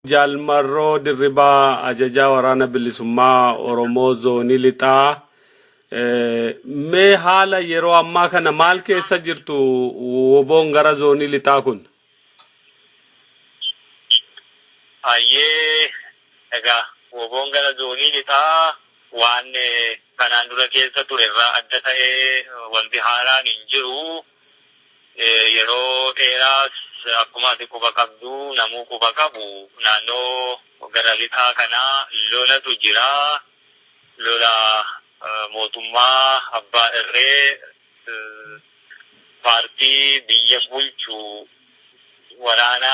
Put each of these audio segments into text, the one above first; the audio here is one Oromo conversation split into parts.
Jaal Marroo Dirribaa Ajajaa Waraana Bilisummaa Oromoo Zoonii Lixaa mee haala yeroo ammaa kana maal keessa jirtu woboon gara zoonii lixaa kun? Hayyee egaa woboon gara zoonii lixaa waan kanaan dura keessa ture irraa adda ta'ee wanti haaraan hin jiru. Yeroo dheeraas akkuma ati quba qabdu namuu quba qabu naannoo gara lixaa kana lolatu jira. Lola mootummaa abbaa irree paartii biyya bulchu waraana.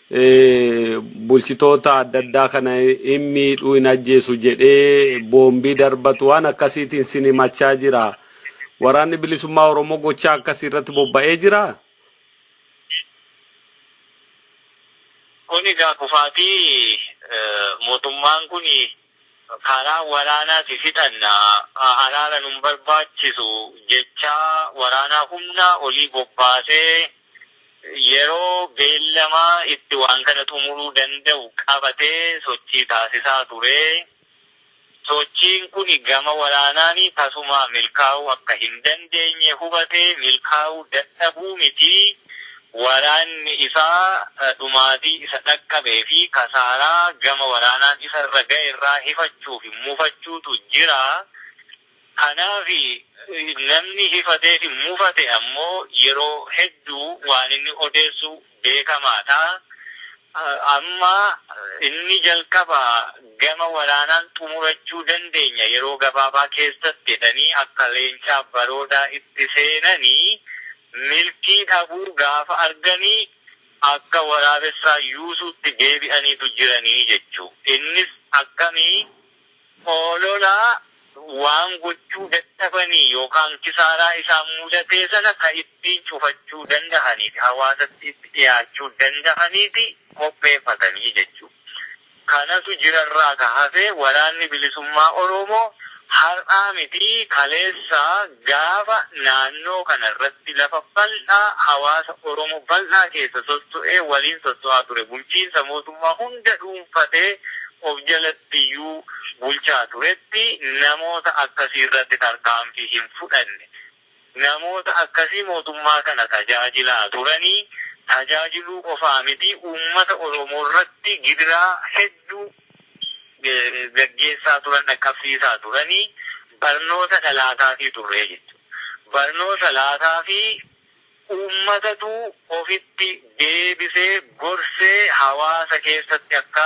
bulchitoota adda addaa kana hin miidhuu hin ajjeesu jedhee boombii darbatu waan akkasiitiin sin himachaa jira. Waraanni bilisummaa Oromoo gochaa akkasii irratti bobba'ee jira. Kun egaa kufaatii mootummaan kun karaa waraanaati fixanna araara nun barbaachisu jechaa waraanaa humnaa olii bobbaasee yeroo beellama itti waan kana xumuruu danda'u qabatee sochii taasisaa ture. Sochiin kun gama waraanaan tasumaa milkaa'uu akka hin dandeenye hubatee milkaa'uu dadhabuu miti waraanni isaa dhumaatii isa dhaqqabee fi kasaaraa gama waraanaan isa irra ga'e irraa hifachuu fi mufachuutu jira. Kanaafi, namni hifateefi mufate ammoo yeroo hedduu waan inni odeessu beekamaadha. Amma inni jalqaba gama waraanaan xumurachuu dandeenya yeroo gabaabaa keessatti jedhanii akka leencaa baroodaa itti seenanii milkii dhabuu gaafa arganii akka waraabessaa yuusuutti deebi'aniitu jiranii jechu. Innis akkami? Olola waan gochuu dadhabanii yookaan kisaaraa isaan mudatee sana ka ittiin cufachuu dandahanii fi hawaasatti itti dhiyaachuu dandahaniiti qopheeffatanii jechuu kanatu jirarraa ka hafe waraanni bilisummaa Oroomoo har'aa mitii kaleessa gaafa naannoo kana irratti lafa bal'aa hawaasa Oromoo bal'aa keessa sosso'ee waliin sosso'aa ture bulchiinsa mootummaa hunda dhuunfatee of jalatti iyyuu bulchaa turetti namoota akkasii irratti tarkaanfii hin fudhanne. Namoota akkasii mootummaa kana tajaajilaa turanii tajaajiluu qofaa miti uummata Oromoo irratti gidiraa hedduu gaggeessaa turan dhaqqabsiisaa turanii barnoota dhalaataafii turre jechuudha. Barnoota laataafii. Uummatatu ofitti deebisee gorsee hawaasa keessatti akka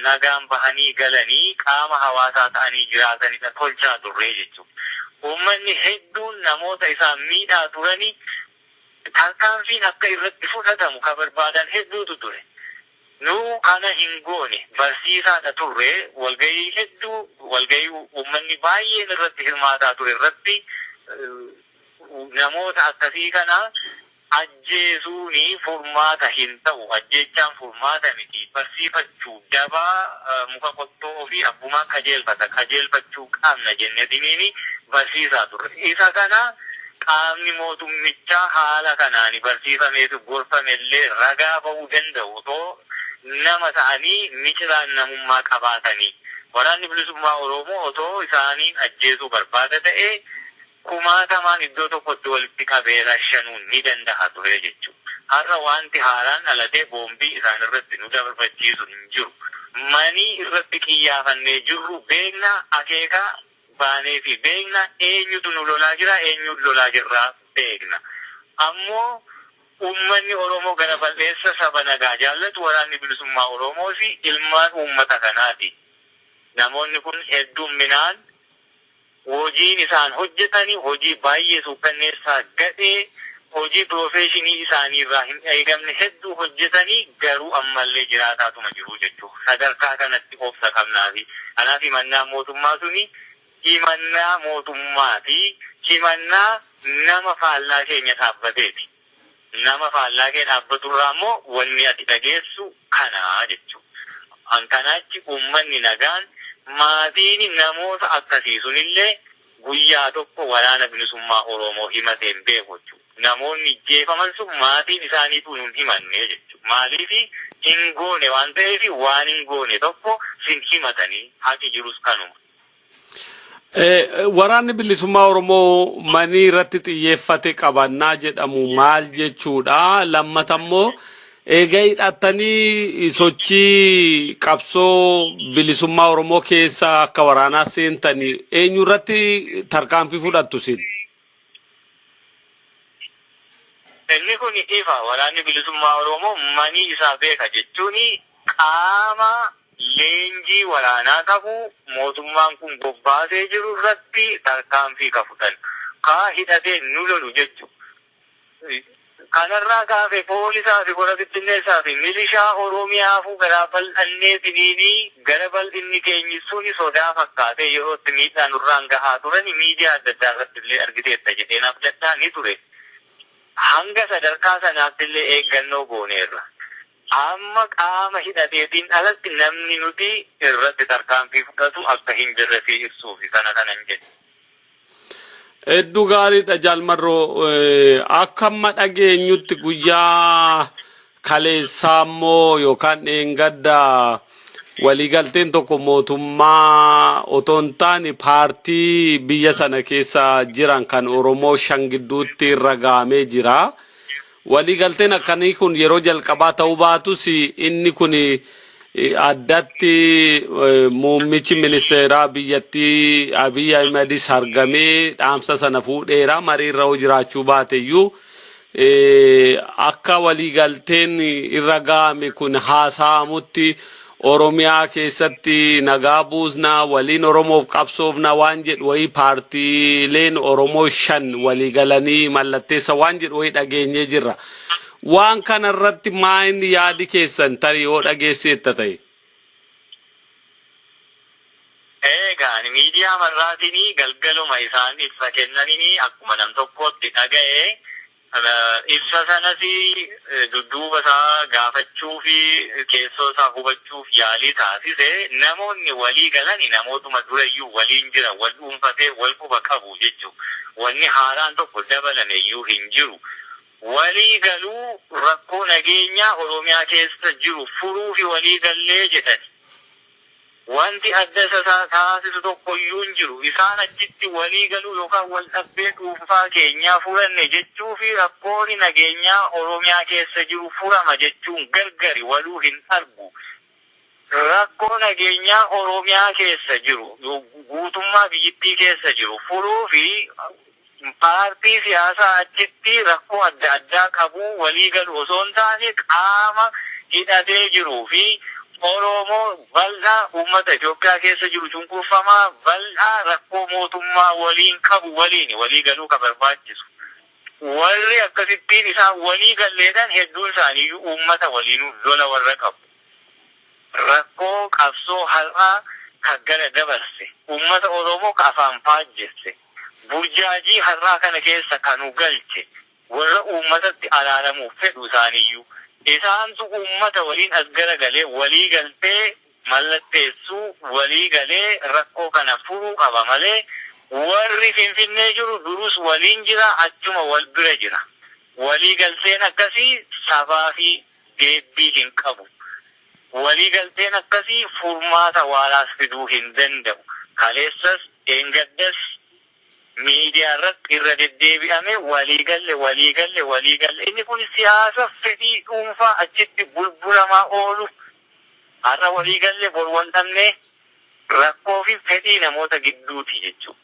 nagaan bahanii galanii qaama hawaasaa ta'anii jiraatanidha tolchaa turree jechuudha. Uummanni hedduun namoota isaan miidhaa turani tarkaanfiin akka irratti fudhatamu ka barbaadan hedduutu ture. Nu kana hin goone. Barsiisaadha turre. Walgahii hedduu walgahii uummanni baay'een irratti hirmaataa ture irratti Namoota akkasii kana ajjeesuun furmaata hin ta'u. Ajjeechaan furmaata miti. Barsiifachuu, daba muka qottoo ofii abbumaan qajeelfata, qajeelfachuu qabna jennetiniin barsiisaa turre. Isa kana qaamni mootummichaa haala kanaan barsiifamee fi gorfame illee ragaa ba'uu danda'u. Otoo nama ta'anii miciraan namummaa qabaatanii. Waraanni Bilisummaa Oromoo otoo isaaniin ajjeesuu barbaada ta'ee, kumaatamaan iddoo tokkotti walitti qabee rashanuun ni dandaha ture jechu. Har'a waanti haaraan dhalatee boombii isaan irratti nu darbachiisu hin jiru. Manii irratti qiyyaafannee jirru beekna, akeeka baaneefii beekna, eenyutu nu lolaa jira, eenyuun lolaa jirra beekna. Ammoo uummanni Oromoo gara bal'eessa saba nagaa jaallatu, Waraanni Bilisummaa Oromoos ilmaan uummata kanaati. Namoonni kun hedduumminaan. Hojiin isaan hojjetani hojii baay'ee suukkanneessaa, gadhee, hojii piroofeeshinii isaaniirraa hin eegamne hedduu hojjetani garuu ammallee jiraataatuma jiru jechuuf sadarkaa kanatti obsa qabnaafi. Kanaaf himannaan mootummaa suni himannaa mootummaati, himannaa nama faallaa keenya dhaabbateeti. Nama faallaa kee dhaabbatu irraa immoo wanni ati dhageessu kana jechuu. An kanaa achi ummanni nagaan, maatiin namoota akkasii sun illee guyyaa tokko Waraana Bilisummaa Oromoo himatee hin beeku jechuu. Namoonni ijjeefaman sun maatiin isaaniituu nun himanne jechuu. Maaliif hin goone waan ta'eef waan hin goone tokko sin himatanii haqi jirus kanuma. Waraanni bilisummaa Oromoo manii irratti xiyyeeffate qabannaa jedhamu maal jechuudha? Lammata immoo eega hidhattanii sochii qabsoo bilisummaa Oromoo keessa akka waraanaa seentanii eenyu irratti tarkaanfii fudhattu isin? Inni kun ifa, Waraanni Bilisummaa Oromoo manii isaa beeka jechuun qaama leenjii waraanaa qabu mootummaan kun bobbaasee jiru irratti tarkaanfii ka fudhannu, ka hidhatee nu lolu jechu Kanarraa kaafe Poolisaa fi Kora Bittinneessaa fi Milishaa Oromiyaafuu garaa bal'annee finiini gara bal'inni keenyi suni sodaa fakkaatee yeroo itti miidhaa nurraan gahaa turani miidiyaa adda addaa irrattillee argiteetta jedheen abdadha ni ture. Hanga sadarkaa sanaattillee eeggannoo gooneerra. Amma qaama hidhateetiin alatti namni nuti irratti tarkaanfii fudhatu akka hin jirre sii ibsuufi kana kanan jedhe. Hedduu gaariidha Jaal Marroo. Akka amma dhageenyutti guyyaa kaleessaa immoo yookaan dheengadda waliigalteen tokko mootummaa otoo hin taane paartii biyya sana keessa jiran kan Oromoo shan gidduutti irra gahamee jira. Waliigalteen akkanii kun yeroo jalqabaa ta'uu baatus inni kun addatti muummichi ministeeraa biyyattii Abiy Ahimedis argamee dhaamsa sana fuudheera mariirra yoo jiraachuu baateyyuu akka waliigalteen irra ga'ame kun haasa'amutti Oromiyaa keessatti nagaa buusna, waliin Oromoof qabsoofna waan jedhu wayii paartiileen Oromoo shan walii galanii mallatteessa waan jedhu wayii dhageenyee jirra. Waan kana irratti maayin yaadi keessan tarii yoo dhageesseetta ta'e? Eegaan miidiyaa marraatiin galgaluma isaan ibsa kennaniin akkuma nam tokkootti dhaga'e Kana ibsa sanas dudduuba isaa gaafachuu fi keessoo isaa hubachuuf yaalii taasise. Namoonni walii galan namootuma durayyuu waliin jiran, wal dhuunfatee wal quba qabu jechuudha. Wanni haaraan tokko dabalame iyyuu hin jiru. Walii galuu rakkoo nageenyaa Oromiyaa keessa jiru furuufi walii gallee jedhani. Wanti adda isa taasisu tokko iyyuu hin jiru. Isaan achitti walii galuu yookaan wal dhabbee dhuunfaa keenyaa furanne jechuu fi rakkooni nageenyaa Oromiyaa keessa jiru furama jechuun gargari waluu hin argu. Rakkoo nageenyaa Oromiyaa keessa jiru, guutummaa biyyittii keessa jiru furuu fi. Paartii siyaasaa achitti rakkoo adda addaa qabu walii galu osoo hin taane qaama hidhatee jiru fi Oroomoo bal'a uummata Itoophiyaa keessa jiru cunqurfamaa bal'aa rakkoo mootummaa waliin qabu waliini walii galuu ka barbaachisu. Warri akkasittiin isaan walii galleedhan hedduun isaaniiyyuu uummata waliinu lola warra qabu. Rakkoo qabsoo har'aa ka gara dabarse, uummata Oroomoo ka afaan faajjesse. Burjaajii har'aa kana keessa ka nu galche worra uummatatti araaramuuf fedhu isaaniyyuu. Isaantu uummata woliin as garagalee wolii galtee mallatteessuu wolii galee rakkoo kana furuu qaba malee worri Finfinnee jiru durus woliin jira achuma wol bira jira. Wolii galteen akkasii sabaafi deebbii hin qabu. Waliigalteen akkasii furmaata waaraas fiduu hin danda'u. Kaleessas dheengaddas miidiyaarratti irra deddeebi'amee waliigalle, waliigalle, waliigalle. Inni kun siyaasa fedhii dhuunfaa achitti bulbulamaa oolu, har'a waliigalle bor wal dhabnee, rakkoofi fedhii namoota gidduuti jechuudha.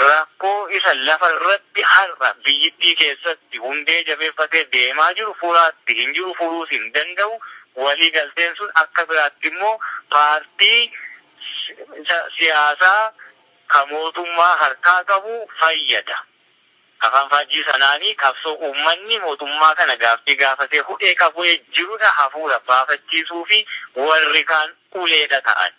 Rakkoo isa lafa irratti har'a biyyittii keessatti hundee jabeeffatee deemaa jiru furaatti hin jiru furuus hin danda'u. Walii galteen sun akka biraatti immoo paartii siyaasaa ka mootummaa harkaa qabu fayyada. Afaanfaajjii sanaanii qabsoo uummanni mootummaa kana gaaffii gaafatee hudhee qabue jirudha hafuura baafachiisuufi warri kaan uleedha ta'ani.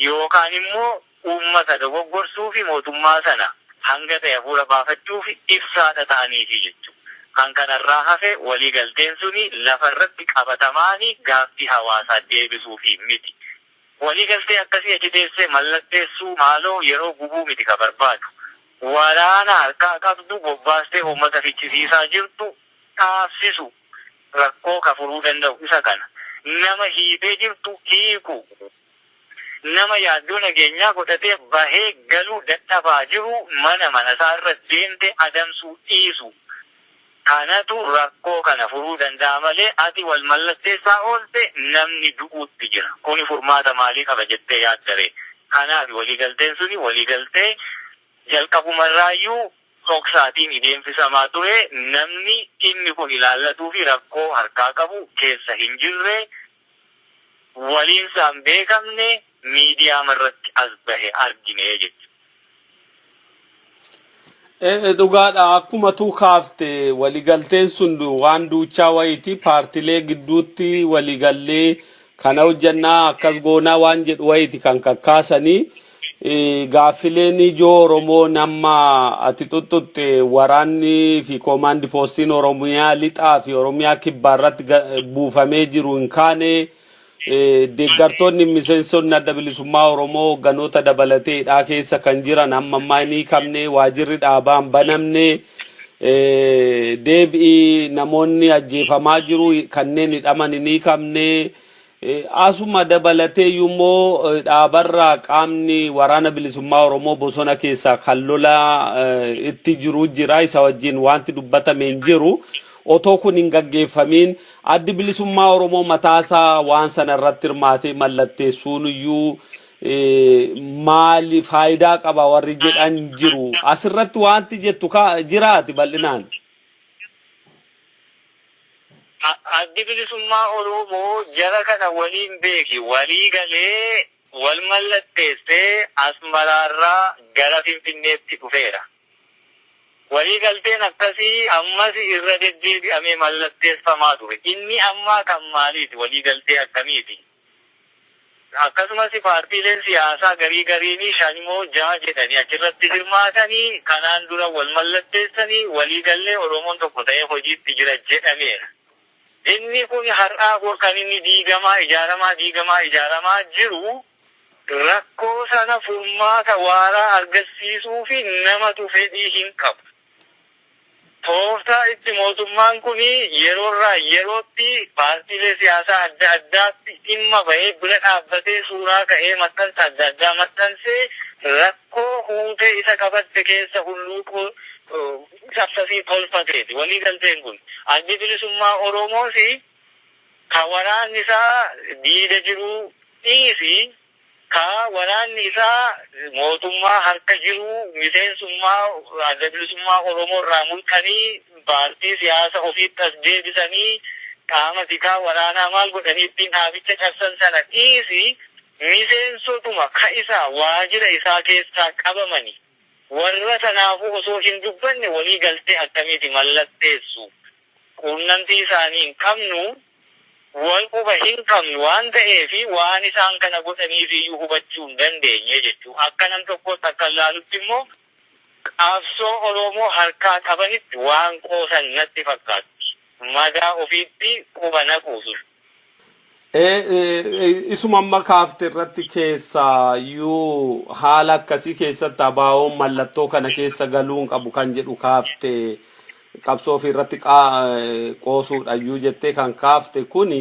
yookaan immoo uummata dogoggorsuufi mootummaa sana hanga ta'e hafuura baafachuuf ibsaa tata'aniifi jechuudha. Kan kanarraa hafe walii galteen suni lafa irratti qabatamaani gaaffii hawaasaa deebisuufi miti. Walii galtee akkasii achi teessee mallatteessuu maaloo yeroo gubuu miti ka barbaadu. Waraana harkaa qabdu bobbaastee uummata ficcisiisaa jirtu dhaabsisu. rakkoo ka furuu danda'u isa kana. Nama hiitee jirtu hiikuu, nama yaaddoo nageenyaa godhatee bahee galuu dadhabaa jiru mana manasaa irra deemtee adamsuu dhiisuu kanatu rakkoo kana furuu danda'a malee ati wal mallatteessaa oolte namni du'uutti jira. Kuni furmaata maalii qaba jettee yaaddaree? Kanaafi waliigalteen suni waliigaltee jalqabumarraayyuu. dhoksaatiin deemsisamaa ture namni dhimmi kun ilaallatuu fi rakkoo harkaa qabu keessa hin jirre, waliin isaa hin beekamne miidiyaama irratti as bahe argine jechuudha. Ee dhugaadha akkuma tuu kaafte waligalteen sun waan duuchaa wayiiti paartilee gidduutti waligallee kana hojjannaa akkas goonaa waan jedhu wayiiti kan kakkaasanii Eh, Gaaffileen ijoo Oromoon amma ati xuxxuxxe waraanni fi koomaandi poostiin Oromiyaa lixaa fi Oromiyaa kibbaa irratti ga- buufamee jiru hin kaane eh, deeggartoonni miseensonni adda bilisummaa Oromoo hogganoota dabalatee hidhaa keessa kan jiran amma ammaa hin hiikamne waajirri dhaabaa hin banamne eh, deebi'i namoonni ajjeefamaa jiru kanneen hidhaman hin hiikamne Asuma dabalateeyyuu immoo dhaabarraa qaamni waraana bilisummaa Oromoo bosona keessaa kan lola itti jiru jira. Isa wajjin wanti dubbatame hin jiru. Otoo kun hin gaggeeffamiin addi bilisummaa Oromoo mataasaa waan sana irratti hirmaatee mallatteessuun iyyuu maali faayidaa qaba warri jedhan jiru. Asirratti wanti jettu jiraati bal'inaan. Addi Bilisummaa Oroomoo jara kana waliin beeki walii galee wal mallatteessee Asmaraarraa gara Finfinneetti dhufeera. Walii galteen akkasii ammas irra deddeebi'amee mallatteessamaa ture. Inni ammaa kan maaliiti? Walii galtee akkamiiti? Akkasumas paartiileen siyaasaa garii gariinii shan moo ja'a jedhanii achirratti hirmaatanii kanaan dura wal mallatteessanii walii gallee Oromoon tokko ta'ee hojiitti jira jedhameera. Inni kun har'aa bor kan inni diigamaa ijaaramaa diigamaa ijaaramaa jiru rakkoo sana furmaata waaraa argassiisuufi namatu fedhii hinqabu. Tooftaa itti mootummaan kun yeroorraa yerootti paartiilee siyaasaa adda addaatti dhimma bahee bira dhaabbatee suuraa ka'ee maxxansa adda addaa maxxansee rakkoo huutee isa qabatte keessa hulluuquu cabsasii tolfateeti. Waliigalteen kun Addi Bilisummaa Oromoos ka waraanni isaa diida jiru dhiisii ka waraanni isaa mootummaa harka jiru miseensummaa Adda Bilisummaa Oromoo irraa mulqanii paartii siyaasa ofiitti as deebisanii qaama tikaa waraanaa maal godhanii ittiin dhaabicha cabsan sana dhiisi miseensotuma ka isaa waajira isaa keessaa qabamani warra sanaafuu osoo hin dubbanne walii galtee akkamiiti mallatteessu quunnamtii isaanii hin qabnu, wal quba hin qabnu waan ta'eef waan isaan kana godhaniif iyyuu hubachuu hin dandeenye jechuun akka nam tokkootti akkan ilaalutti immoo qabsoo Oromoo harkaa qabanitti waan qoosan natti fakkaatti. Madaa ofiitti quba naquu dura. Eh, eh, Isuma amma kaafte irratti keessaa yuu haala akkasii keessatti abaawoon mallattoo kana keessa galuu hin qabu kan jedhu kaafte qabsoo ofii irratti qaa- eh, qoosuudha yuu jettee kan kaafte kuni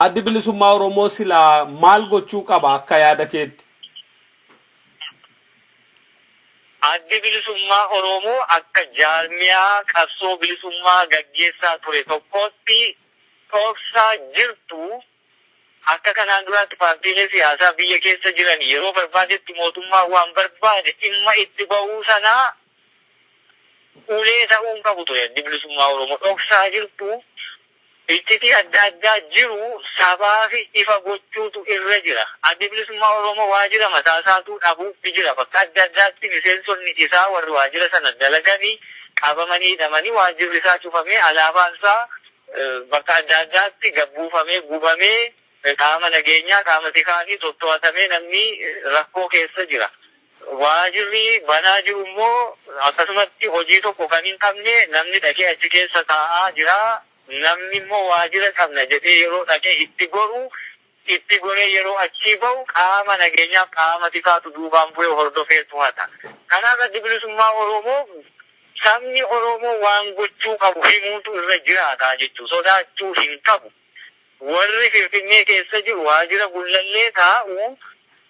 addi bilisummaa Oromoo silaa maal gochuu qaba akka yaada keetti? Addi bilisummaa Oromoo akka jaarmiyaa qabsoo bilisummaa gaggeessaa ture tokkootti dhoofsaa jirtu, akka kanaan duraatti paartiilee siyaasaa biyya keessa jiran yeroo barbaadetti mootummaan waan barbaade dhimma itti ba'uu sanaa ulee ta'uu hin qabu ture Addi Bilisummaa Oromoo. Dhoksaa jirtu, iccitii adda addaa jiru sabaafi ifa gochuutu irra jira. Addi Bilisummaa Oromoo waajira mataa isaatuu dhabuutti jira. Bakka adda addaatti miseensonni isaa warri waajira sana dalagani, qabamanii hidhamanii waajjirri isaa cufamee alaabaan isaa bakka adda addaatti gad buufamee gubamee qaama nageenyaa qaama tikaatiin totto'atamee namni rakkoo keessa jira. Waajirri banaa jiru immoo akkasumatti hojii tokko kan hin qabne namni dhaqee achi keessa taa'aa jira. Namni immoo waajira qabna jedhee yeroo dhaqee itti goru itti goree yeroo achii bahu qaama nageenyaaf qaama tikaatu duubaan bu'ee hordofee tohata. Kanaaf Addi Bilisummaa Oromoo sabni Oromoo waan gochuu qabu himuutu irra jiraata jechu. Sodaachuu hin qabu. Warri Finfinnee keessa jiru waajira Gullallee taa'u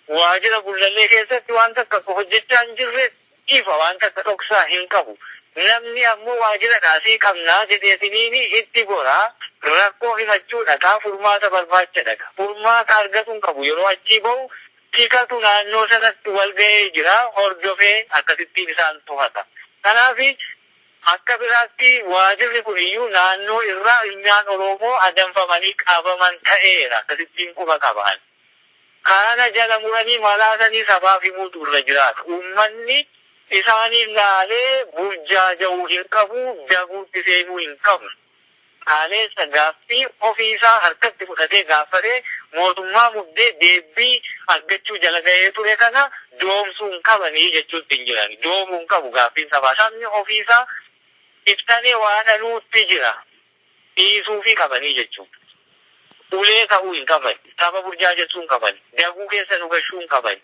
waajira Gullallee keessatti waan takka akka hojjechaa hin jirretti ifa waan takka dhoksaa hin qabu. Namni ammoo waajira dhaasii qabnaa jedheetiniini itti gora, rakkoo himachuu dhaqa, furmaata barbaacha dhaqa. Furmaata argatu hin qabu. Yeroo achii bahu tikatu naannoo sanatti wal gahee jira, hordofee akkasittiin isaan tohata. Kanaafi akka biraatti waajirri kuniyyuu naannoo irraa ilmiaan Oroomoo adamfamanii qabaman ta'eera. Akkasittiin quba qaba ani. Kana jala muranii malaasanii sabaaf himuutu irra jiraata. Uummanni isaaniin laalee burjaaja'u hin qabu, daguutti seenuu hin qabnu. Kaaleessa gaaffii ofii isaa harkatti fudhatee gaaffatee mootummaa muddee deebbii argachuu jala gahee ture kana doomsuu hin qabanii jechuutti hin jirani. Doomuu hin qabu gaaffiin sabaa. Sabni ofii isaa ibsanee waa dhaluutti jira. dhiisuufii qabanii jechuun ulee ka'uu hin qabani, saba burjaajessuu hin qabani, daguu keessa nu gashuu hin qabani,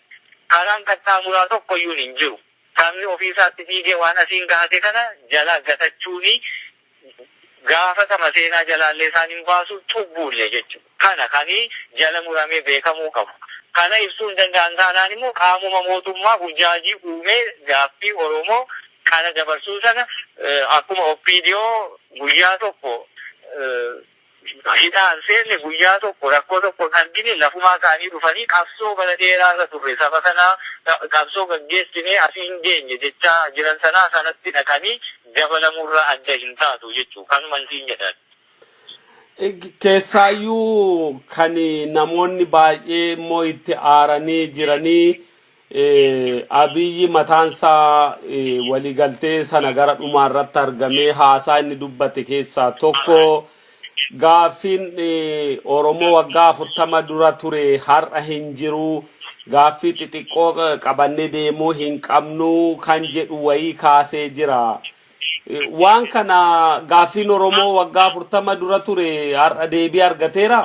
karaan qaxxaamuraa tokko iyyuun hin jiru, sabni ofii isaatti dhiigee waan asiin gahate kana jalaa gatachuunii gaafatama seenaa jalaallee isaan hin baasu, cubbuullee jechuudha. kana kan jala muramee beekamuu qabu. Kana ibsuu hin danda'an taanaan immoo qaamuma mootummaa burjaajii uumee gaaffii Oromoo kana dabarsuu sana akkuma opdo guyyaa tokko hidhaa hin seenne guyyaa tokko rakkoo tokko hin argine lafumaa ka'anii dhufanii qabsoo bara dheeraa irra turre saba kana qabsoo gaggeessinee asiin geenye jechaa jiran sanaa sanatti dhaqanii dabalamurraa adda hin taatu jechuu kanuman siin jedha. Keessaayyuu kan namoonni baay'ee immoo itti aaranii jiranii eh, Abiyyi mataansaa eh, waliigaltee sana gara dhumaa irratti argamee haasaa inni dubbate keessaa tokko gaaffiin eh, Oromoo waggaa afurtama dura ture har'a hin jiru gaaffii xixiqqoo eh, qabannee deemuu hin qabnu kan jedhu wayii kaasee jira. Waan kana gaaffiin Oromoo waggaa afurtama dura ture har'a deebii argateera.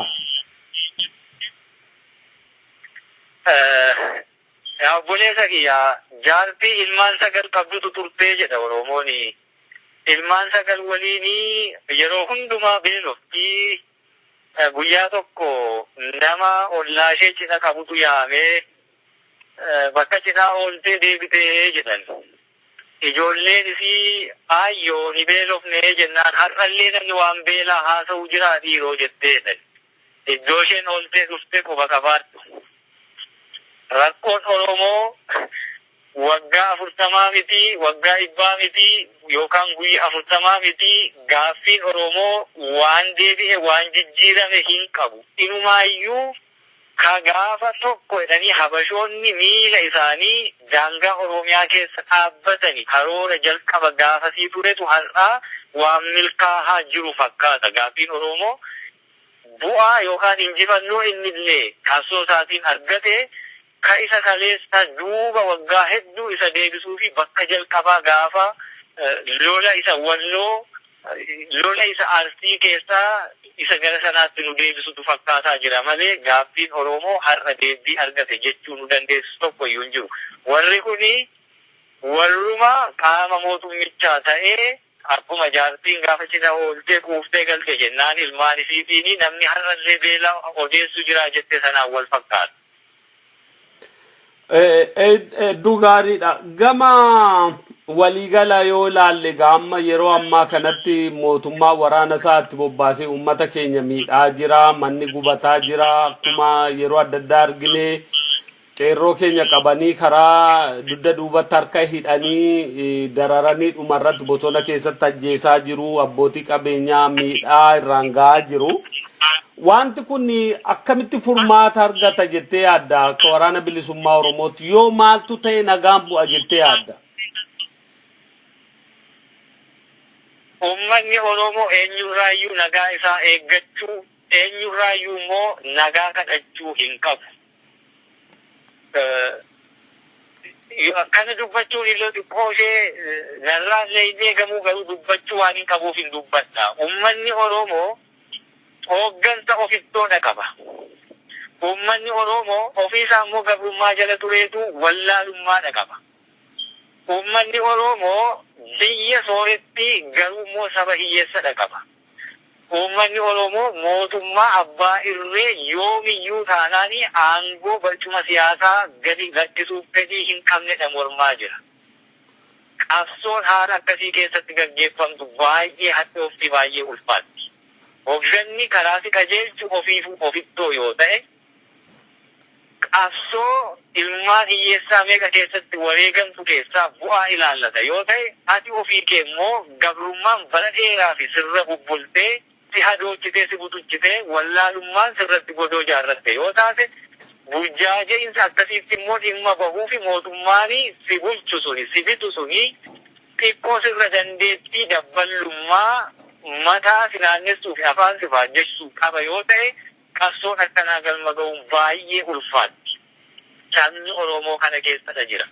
Yaa obboleessa kiyya jaartii ilmaan sagal qabdutu turtee jedha Oromoon. Ilmaan sagal waliin yeroo hundumaa beeloftii guyyaa tokko nama ollaa ishee cidha qabutu yaamee bakka cidhaa ooltee deebitee jedhan. Ijoolleen isii, Aayyoo, hin beelofne jennaan, har'allee namni waan beelaa haasa'u jiraa dhiiroo? jettee dha. Iddoosheen ooltee dhufte quba qabaadhu. Rakkoon Oromoo waggaa afurtamaa miti, waggaa dhibbaa miti, yookaan guyya afurtamaa miti, gaaffiin Oromoo waan deebi'e, waan jijjiirame hin qabu. Inumaayyuu Ka gaafa tokko jedhanii Habashoonni miila isaanii daangaa Oroomiyaa keessa dhaabbatani karoora jalqaba gaafasii turetu har'aa waan milkaahaa jiru fakkaata. Gaaffiin Oroomoo bu'aa yookaan injifannoo innillee qabsoo isaatiin argate Ka isa kaleessa duuba waggaa hedduu isa deebisuu fi bakka jalqabaa gaafa lola isa Walloo, lola isa Arsii keessaa isa gara sanaatti nu deebisutu fakkaataa jira malee gaaffiin Oromoo har'a deebbii argate jechuu nu dandeessisu tokko iyyuu hin jiru. Warri kuni warruma qaama mootummichaa ta'ee, Akkuma jaartiin gaafa cidha ooltee quuftee galte jennaan ilmaan isiitiini namni har'allee beela odeessu jiraa jette sanaan wal fakkaata. Hedduu gaariidha. Gama waliigala yoo ilaalle egaa amma yeroo ammaa kanatti mootummaa waraana isaa itti bobbaasee uummata keenya miidhaa jira, manni gubataa jira, akkuma yeroo adda addaa argine Qeerroo keenya qabanii karaa dugda duubatti harka hidhanii dararanii dhumarratti bosona keessatti ajjeesaa jiru. Abbootii qabeenyaa miidhaa irraan gahaa jiru. Wanti kun akkamitti furmaata argata jettee yaadda akka waraana bilisummaa Oromootti yoo maaltu ta'e nagaan bu'a jettee yaadda? Uummanni Oromoo eenyurraayyuu nagaa isaa eeggachuu, eenyurraayyuu immoo nagaa kadhachuu hin qabu. Akkana dubbachuun illee xiqqoo ishee narraa illee hin eegamuu garuu dubbachuu waanin qabuuf hin dubbadha. Ummanni Oroomoo hooggansa of ittoodha qaba. Ummanni Oroomoo ofii isaa immoo gabrummaa jala tureetu wallaalummaadha qaba. Ummanni Oroomoo biyya sooretti garuu immoo saba hiyyeessadha qaba. Uummanni Oromoo mootummaa abbaa irree yoomiyyuu taanaan aangoo barcuma siyaasaa gadi lakkisuuf fedhii hin qabnedha mormaa jira. Qabsoon haala akkasii keessatti gaggeeffamtu baay'ee hadhoofti, baay'ee ulfaatti. Hogganni karaa si qajeelchu ofiifuu ofittoo yoo ta'e, Qabsoo ilmaan hiyyeessaa meeqa keessatti wareegamtu keessaa bu'aa ilaallata yoo ta'e, ati ofii kee immoo gabrummaan bara dheeraafi sirra bubbultee, si hadoochitee, si butuchitee, wallaalummaan sirratti godoo jaarratte yoo taate, burjaaja'iinsa akkasiitti immoo dhimma bahuufi mootummaani si bulchu suni, si bitu suni, xiqqoo sirra dandeettii dabballummaa, mataa si naannessuufi afaan si faajjessu qaba yoo ta'e, Qabsoon akkanaa galma ga'uun baayyee ulfaatti. Sabni Oromoo kana keessadha jira.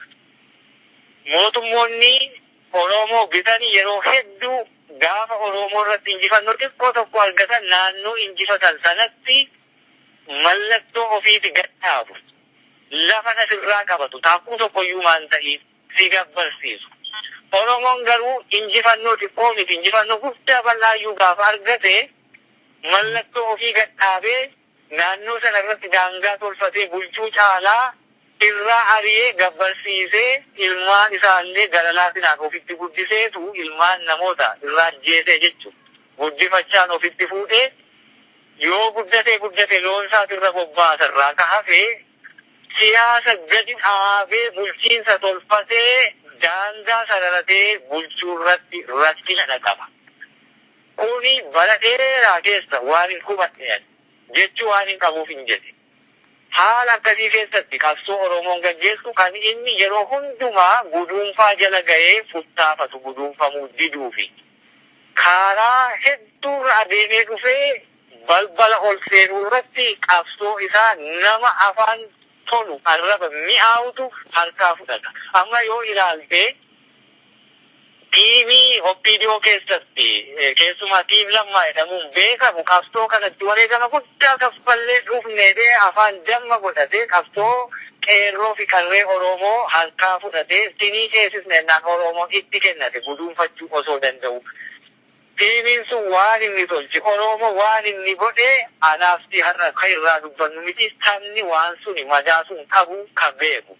Mootummoonni Oromoo bitan yeroo hedduu gaafa Oromoo irratti injifannoo xiqqoo tokko argatan naannoo injifatan sanatti mallattoo ofiiti gad dhaabu. Lafa na sirraa qabatu. Taakkuu tokkoyyuu maan ta'iin si gabbarsiisu. Oromoon garuu injifannoo xiqqoo miti injifannoo guddaa bal'aayyuu gaafa argate mallattoo ofii gad dhaabee naannoo sana irratti daangaa tolfatee bulchuu caalaa irraa ari'ee gabbarsiisee ilmaan isaa illee gara laafinaan ofitti guddiseetu ilmaan namoota irraa ajjeesee jechu guddifachaan ofitti fuudhee yoo guddatee guddate loon isaati irra bobbaasa irraa ka hafe siyaasa gadi dhaabee bulchiinsa tolfatee daangaa sararatee bulchuu irratti rakkina dhaqaba. Kuni bara dheeraa keessa waanin hubadheen jechi waanin qabuufin jedhe. Haala akkasii keessatti qabsoo Oromoon gaggeessu kan inni yeroo hundumaa guduunfaa jala gahee futtaafatu guduunfamuu diduufi. Kaaraa hedduurra adeemee dhufee balbala ol seenuu irratti qabsoo isaa nama afaan tolu arraba mi'aawutu harkaa fudhata. Amma yoo ilaalte Tiimii opdo keessatti keessumaa Tiim Lammaa jedhamuun beekamu qabsoo kanatti wareegama guddaa kaffallee dhufne jedhee afaan damma godhatee qabsoo Qeerroo fi Qarree Oroomoo harkaa fudhatee sinii ceesisna jennaan Oroomoon itti kennate guduunfachuu osoo danda'u Tiimiin sun waan inni tolche Oroomo waan inni godhe anaaf si har'a ka irraa dubbannu miti sabni waan suni madaa sun qabu ka beeku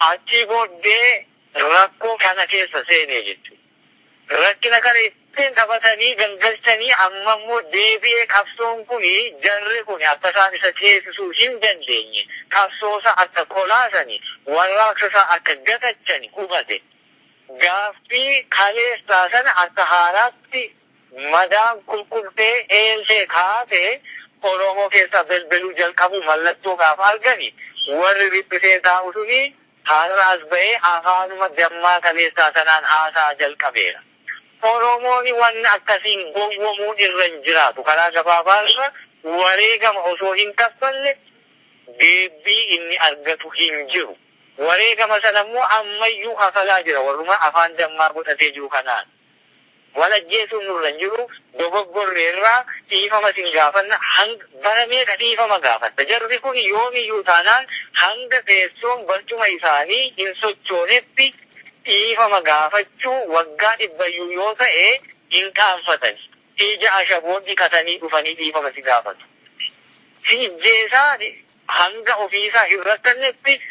Achii booddee rakkoo kana keessa seene jechuudha. Rakkina kana ittin taphatanii gangalchanii amma immoo deebi'ee qabsoon kun jarri kun akka isaan isa ceesisuu hin dandeenye qabsoo isaa akka kolaasani warraaqsa isaa akka gatachani hubate gaaffii kaleessaa sana akka haaraatti Madaan kulkultee eelee kaatee Oromoo keessaa belbeluu jalqabuu mallattoo gaafa argani warri riphisee taa'u suni har'aas ba'ee afaanuma dammaa kaleessaa sanaan haasa'a jalqabeera. Oromooni wanna akkasiin gowwomuu irra hin jiraatu. Karaa gabaabaa irra wareegama osoo hin kaffalle deebbii inni argatu hin jiru. Wareegama sana immoo ammayyuu kafalaa jira warruma afaan dammaa godhatee jiru kanaan. Wal ajjeesuun nurra hin jiru, dogoggorreerra, dhiifama isin gaafanna, hang bara meeqa dhiifama gaafatta? Jarri kun yoomiyyuu taanaan hanga teessoon barcuma isaanii hin sochoonetti dhiifama gaafachuu waggaa dhibbayyuu yoo ta'e hin qaanfatani. Ija ashaboo dhiqatanii dhufanii dhiifama si gaafatu. Si ijjeesaa hanga ofiisaa hin rakkannetti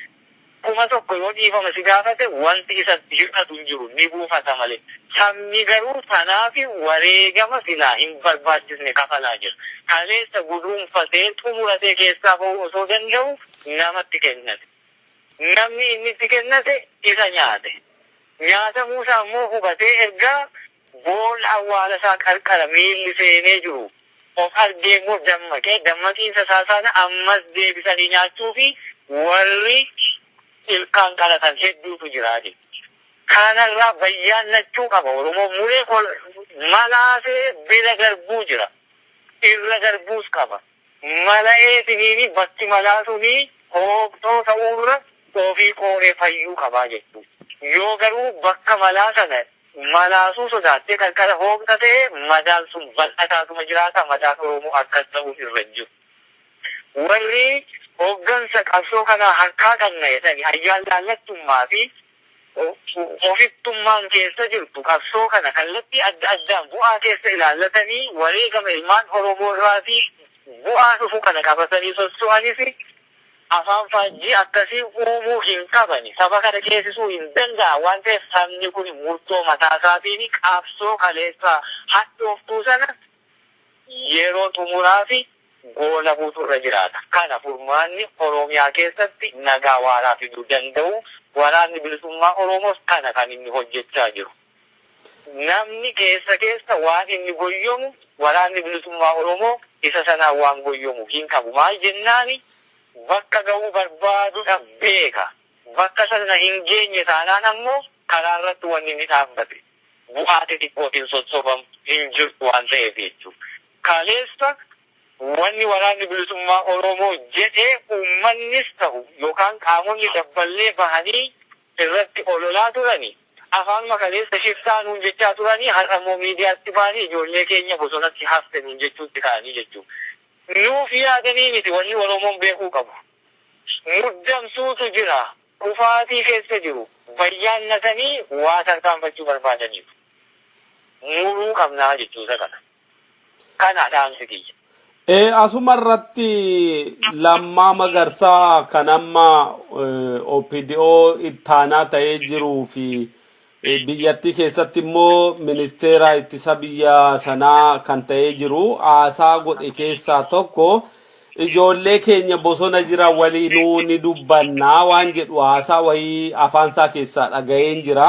kuma tokko yoo dhiifama si gaafate wanti isatti hir'atu hin jiru, ni buufata malee. Sabni garuu sanaaf wareegama silaa hin barbaachisne kafalaa jira. Kaleessa guduunfatee, xumuratee keessaa bahuu osoo danda'uu namatti kennate. Namni inni itti kennate isa nyaate. Nyaatamuu isaa immoo hubatee erga Boolla awwaala isaa qarqara miilli seenee jiru of argee immoo dammaqe. Dammaqiinsa isaa sana ammas deebisanii nyaachuuf warri ilkaan qalatan hedduutu jira. Kana irraa bayyaannachuu qaba Oromoon. Muree kol malaasee bira darbuu jira. Irra darbuus qaba. Mala'eetiniin bakki malaa sun hooqxoo ta'uu irra ofii qooree fayyuu qaba jechuudha. Yoo garuu bakka malaa sana Malaasuu sodaattee qarqara hooqxa ta'e madaan sun bal'ataatuma jiraata madaan Oromoo akkas ta'uun irra hin jiru. Warri hoggansa qabsoo kanaa harkaa qabna jedhani ayyaanlaallattummaa fi ofittummaan keessa jirtu qabsoo kana kallattii adda addaan bu'aa keessa ilaallatanii wareegama ilmaan Oromoo irraati bu'aa dhufu kana qabatanii sosso'anis, Afaan faajjii akkasii uumuu hin qabani. Saba kana ceesisuu hin danda'an waan ta'eef sabni kuni murtoo mataa isaatiini qabsoo kaleessaa hadhooftuu sana yeroo xumuraafi goolabuutu irra jiraata. Kana furmaanni Oromiyaa keessatti nagaa waaraa fiduu danda'u waraanni bilisummaa Oromoos kana kan inni hojjechaa jiru. Namni keessa keessa waan inni goyyomu Waraanni Bilisummaa Oromoo isa sanaan waan goyyomu hin qabu. Maal jennaan bakka gahuu barbaadudha beeka. Bakka sana hin geenye taanaan ammoo karaa irratti wanni inni dhaabbate bu'aa xixiqqootiin sossobamu hin jirtu waan ta'eef jechuudha. Kaleessa wanni Waraanni Bilisummaa Oromoo jedhe uummannis ta'u yookaan qaamonni dabballee bahanii irratti ololaa turani afaanuma kaleessa shiftaa nuun jechaa turanii har'a immoo miidiyaatti baanii ijoollee keenya bosonatti hafte nuun jechuutti ka'anii jechuu nuuf yaadanii miti wanni oromoon beekuu qabu muddamsuutu jira kufaatii keessa jiru bayyaannatanii waa tarkaanfachuu barbaadaniiru muruu qabnaa jechuusa kana. Kana dhaamsi kiyya. Eh, asuma irratti lammaa magarsaa kan amma eh, OPDO ittaanaa ta'ee jiruu fi eh, biyyattii keessatti immoo ministeera ittisa biyya sanaa kan ta'ee jiru haasaa godhe keessaa tokko ijoollee keenya bosona jira waliinuu ni dubbannaa waan jedhu haasaa wayii afaansaa keessaa dhaga'een jira.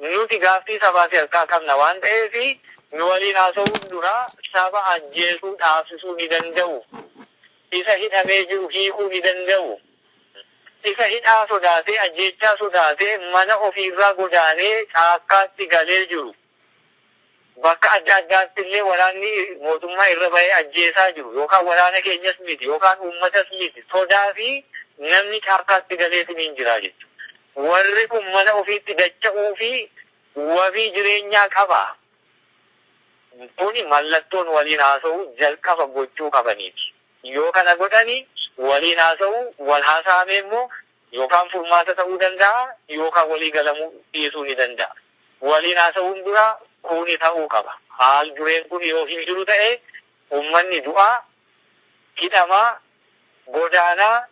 Nuti gaaffii sabaa fi harkaa qabna waan ta'eef nu waliin haasa'uun dura saba ajjeesuu dhaabsisuu ni danda'u? Isa hidhamee jiru hiikuu ni danda'u? Isa hidhaa sodaatee, ajjeechaa sodaatee mana ofiirraa godaanee caakkaatti galee jiru Bakka adda addaatti illee waraanni mootummaa irra bahee ajjeesaa jiru yookaan waraana keenyas miti yookaan uummatas miti sodaa fi namni caakkaatti galeetiniin jira jechuudha. Warri kun mana ofiitti dacha'uu fi wabii jireenyaa qaba. Kuni mallattoon waliin haasa'uu jalqaba gochuu qabaniiti. Yoo kana godhani waliin haasa'uu, wal haa saamee immoo yookaan furmaata ta'uu danda'a yookaan walii galamuu dhiisuu ni danda'a. Waliin haasa'uun dura kuuni ta'uu qaba. Haal dureen kuni yoo hin jiru ta'e ummanni du'aa, hidhamaa, godaanaa,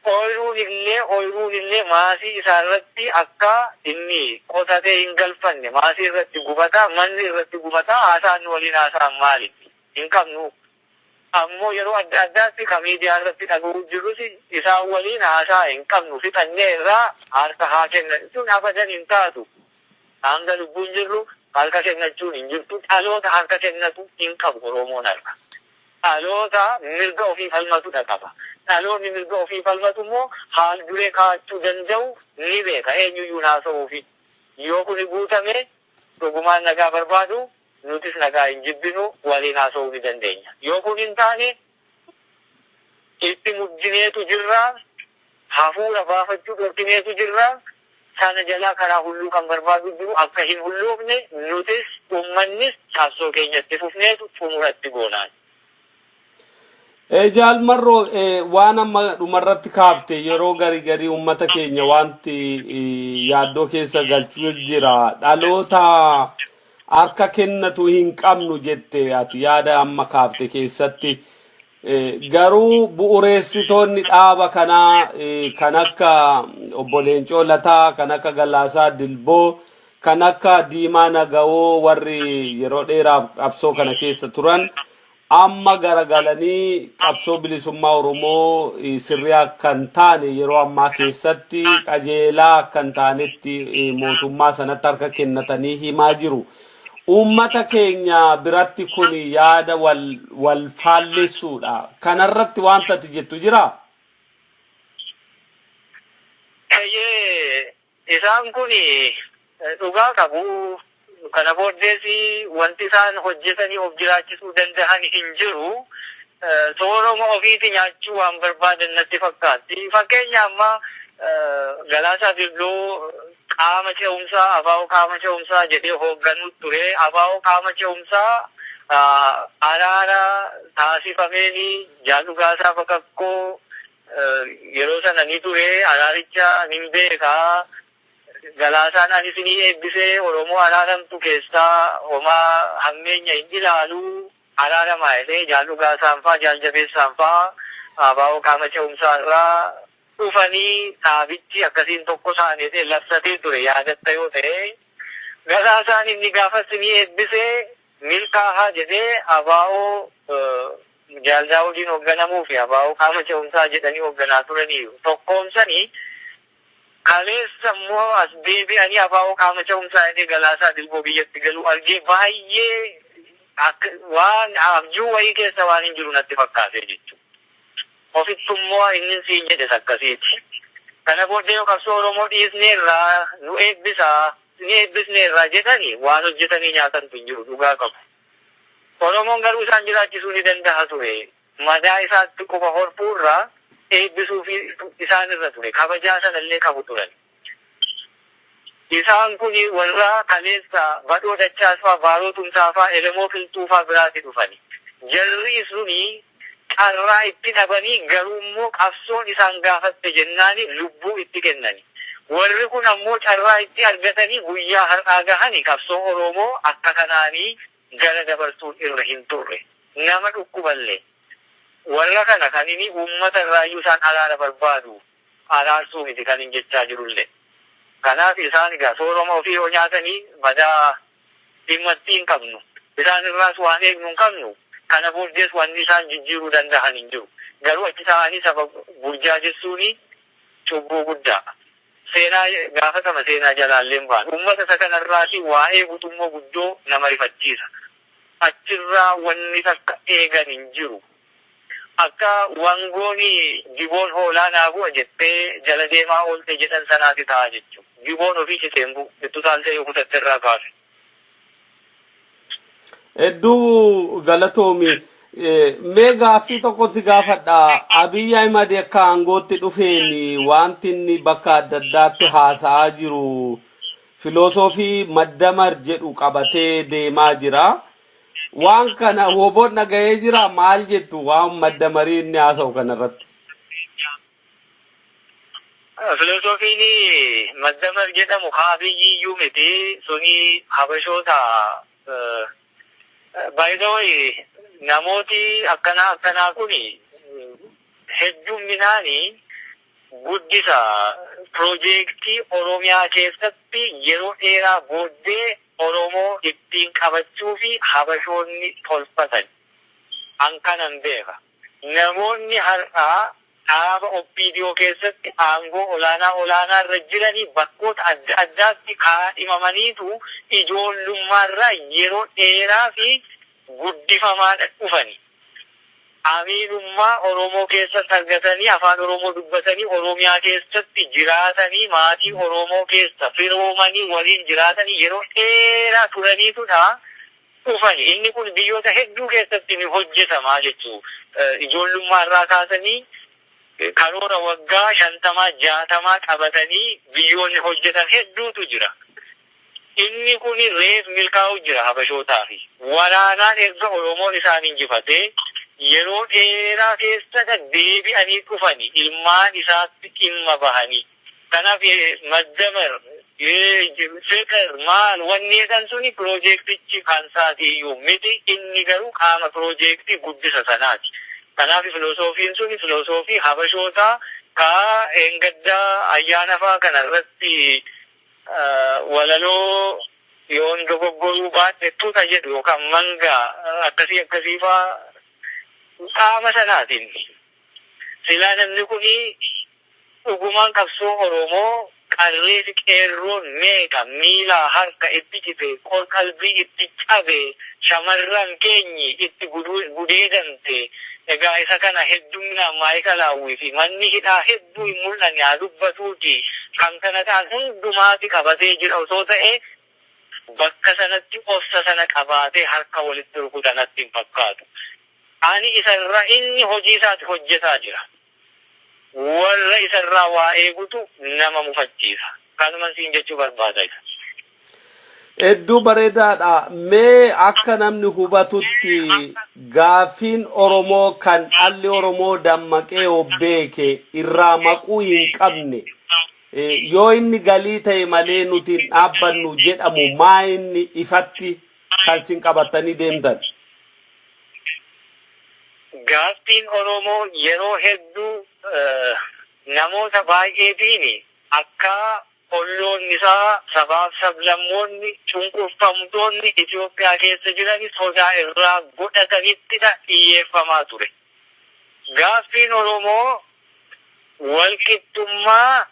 ooyruun illee ooyruun illee maasii isaa irratti akka inni qotatee hin galfanne maasii irratti gubataa, manni irratti gubataa, haasaan nu waliin haasa'an maali? Hin qabnu. ammoo yeroo adda addaatti ka miidiyaa irratti dhaga'uu jirrus isaan waliin haasa'a hin qabnu fixannee irraa harka haa kennani tun abadan hin taatu hanga lubbuun jirru harka kennachuun hin jirtu dhaloota harka kennatu hin qabu oroomoon har'a dhaloota mirga ofii falmatudha qaba dhaloonni mirga ofii falmatu immoo haal duree kaa'achuu danda'u ni beeka eenyuyyuun haasa'uufi yoo kuni guutame dhugumaan nagaa barbaadu Nutis nagaa hin jibbinu, waliin haasa'uu ni dandeenya. Yoo kun hin taane, itti muddineetu jirra, hafuura baafachuu dhorkineetu jirra, sana jalaa karaa hulluu kan barbaadu jiru akka hin hulloofne nutis ummannis qabsoo keenya itti fufneetu xumura itti goonaan. Eh, Jaal Marroo eh, waan amma dhumarratti kaafte yeroo gari garii uummata keenya wanti eh, yaaddoo keessa galchuu jira. Dhaloota harka kennatu hin qabnu jette ati yaada amma kaafte keessatti. Eh, Garuu bu'ureessitoonni dhaaba kanaa eh, kan akka obbo Leencoo Lataa, kan akka Galaasaa Dilboo, Kan akka Diimaa Nagawoo warri yeroo dheeraaf qabsoo kana keessa turan amma garagalanii qabsoo bilisummaa Oromoo eh, sirrii akka hin taane yeroo ammaa keessatti qajeelaa akka hin taanetti eh, mootummaa sanatti harka kennatanii himaa jiru. Uummata keenya biratti kun yaada wal, wal faallessuudha. Kanarratti wanta ati jettu jiraa? Eeyyee Isaan kun dhugaa qabu, kana booddees wanti isaan hojjetanii of jiraachisuu danda'an hin jiru. Sooroma ofiiti nyaachuu waan barbaadan natti fakkaatti. Fakkeenya amma Galaasaa Dilboo qaama ce'umsaa, abo qaama ce'umsaa jedhee hoogganuu ture. Abo qaama ce'umsaa araara taasifameen Jaal Dhugaasaa Bakakkoo Yeroo sana ni ture araaricha nin beeka Galaasaan ani isinii eebbise Oromoo araaramtu keessaa homaa hammeenya hin ilaalu araaramaa jedhee Jaal Dhugaasaan faa Jaal Jabeessaan faa ABO qaama ce'umsaa irraa dhufanii dhaabichi akkasiin tokko taane jedhee labsatee ture yaadatta yoo ta'e Galaasaan inni gaafas isinii eebbise milkaahaa jedhee ABO Jaal Daawudiin hogganamuu fi abo qaama ce'umsaa jedhanii hogganaa turaniiru. Tokkoomsanii kaleessa immoo as deebi'anii abo qaama ce'umsaa jedhee Galaasaa Dilboo biyyatti galuu argee baay'ee akka waan abjuu wayii keessa waanin jiru natti fakkaatee jechuudha. Ofittu immoo innin siin jedhes akkasiiti. Kana booddee yoo qabsoo Oromoo dhiisneerra, nu eebbisaa, isin eebbisneerra jedhani waan hojjetanii nyaatantu hin jiru dhugaa qabu. Oromoon garuu isaan jiraachisuu ni danda'a ture. Madaa isaatti quba horfuu irra eebbisuufiitu isaan irra ture. Kabajaa sana illee qabu turan. Isaan kun warra kaleessa Badhoo Dachaasfaa, Baaroo Tumsaafaa, Elemoo Qilxuufaa biraati dhufani. Jarri suni carraa itti dhabanii garuu immoo qabsoon isaan gaafatte jennaani lubbuu itti kennani. Warri kun ammoo carraa itti argatanii guyyaa har'aa gahani qabsoo Oroomoo akka kanaani gara dabarsuun irra hin turre. Nama dhukkuballee. Warra kana kanini uummata irraayyuu isaan araara barbaadu araarsuu miti kanin jechaa jirullee. Kanaaf isaan egaa sooroma ofii yoo nyaatani madaa Dhimmatti hin qabnu. Isaan irraas waan eegnu hin qabnu. Kana booddees wanni isaan jijjiiruu dandahan hin jiru. Garuu achi taa'anii saba burjaajessuuni cubbuu guddaa. Seenaa gaafatama seenaa jalaallee hin baanu. Ummata isa kana irraati waa eegutu immoo guddoo nama rifachiisa. Achirraa wanni takka eegan hin jiru. Akka wangoon jiboon hoolaa naa bu'a jettee jala deemaa oolte jedhan sanaati ta'a jechu. Jiboon ofii cite hin bu'u. Itti utaaltee yoo kutatte irraa kaasi. Hedduu galatoomi. Eh, Mee gaaffii tokko si gaafadha. Abiy Ahimad akka aangootti dhufeen wanti inni bakka adda addaatti haasa'aa jiru filoosoofii maddamar jedhu qabatee deemaa jira. Waan kana woboon dhaga'ee jira maal jettu waan madda marii inni haasa'u kanarratti. Filosoofiin maddamar jedhamu ka abiyyiyyuu miti suni habashoota by the way namooti akkanaa akkanaa kuni heddumminaani guddisa pirojeektii Oromiyaa keessatti yeroo dheeraa booddee Oromoo ittiin qabachuufi Habashoonni tolfatan. An kanan beeka. Namoonni har'aa dhaaba OPDO keessatti aangoo olaanaa olaanaa irra jirani bakkoota adda addaatti kaadhimamaniitu ijoollummaarraa yeroo dheeraafi guddifamaadha dhufani. amiinummaa Oromoo keessatti argatanii afaan Oromoo dubbatanii Oromiyaa keessatti jiraatanii maatii Oromoo keessa firoomanii waliin jiraatanii yeroo dheeraa turaniitudha dhufani. Inni kun biyyoota hedduu keessatti ni hojjetama jechuu ijoollummaa irraa kaasanii karoora waggaa shantamaa jaatamaa qabatanii biyyoonni hojjetan hedduutu jira. Inni kun reef milkaa'uu jira Habashootaafi. Waraanaan erga Oromoon isaan injifatee yeroo dheeraa keessadha deebi'anii dhufani ilmaan isaatti dhimma bahani. Kan hafe maddamer, fixir maal wanni jedhan suni pirojeektichi kansaati iyyuu miti. Inni garuu qaama pirojeektii guddisa sanaati. Kanaafi filosoofiin suni filosoofii Habashootaa ka dheengaddaa ayyaanafaa kana irratti walaloo yoon dogoggoruu baadhe tuta jedhu yookaan manga akkasii akkasii faa qaama sanaatiin silaa namni kuni dhugumaan qabsoo Oromoo qarree fi qeerroon meeqa miilaa harka itti citee qor-qalbii itti cabe shamarran keenyi itti gudeedamte egaa isa kana hedduminaan maa'ikalaawwii fi manni hidhaa Utuu hin mul'anne haa dubbatuutii kan kana ta'an hundumaati qabatee jira osoo ta'ee bakka sanatti obsa sana qabaatee harka walitti rukuta natti hin fakkaatu. Ani isa irraa inni hojii isaati hojjetaa jira. Warra isa irraa waa eegutu nama mufachiisa. Kanuman siin jechuu barbaada isa. Hedduu bareedaadha. Mee akka namni hubatutti gaaffiin Oromoo kan dhalli Oromoo dammaqee of beeke irraa maquu hin qabne eh, yoo inni galii ta'e malee nuti hin dhaabbannu jedhamu maa inni ifatti kan sin qabattanii deemtan? Gaaffiin Oromoo yeroo hedduu eh, namoota baay'eetiin akka Olloonni isaa sabaaf sablammoonni, cunqurfamtoonni Itoophiyaa keessa jiran sodaa irraa godhatanittidha dhiyyeeffamaa ture. Gaaffiin Oromoo walqixxummaa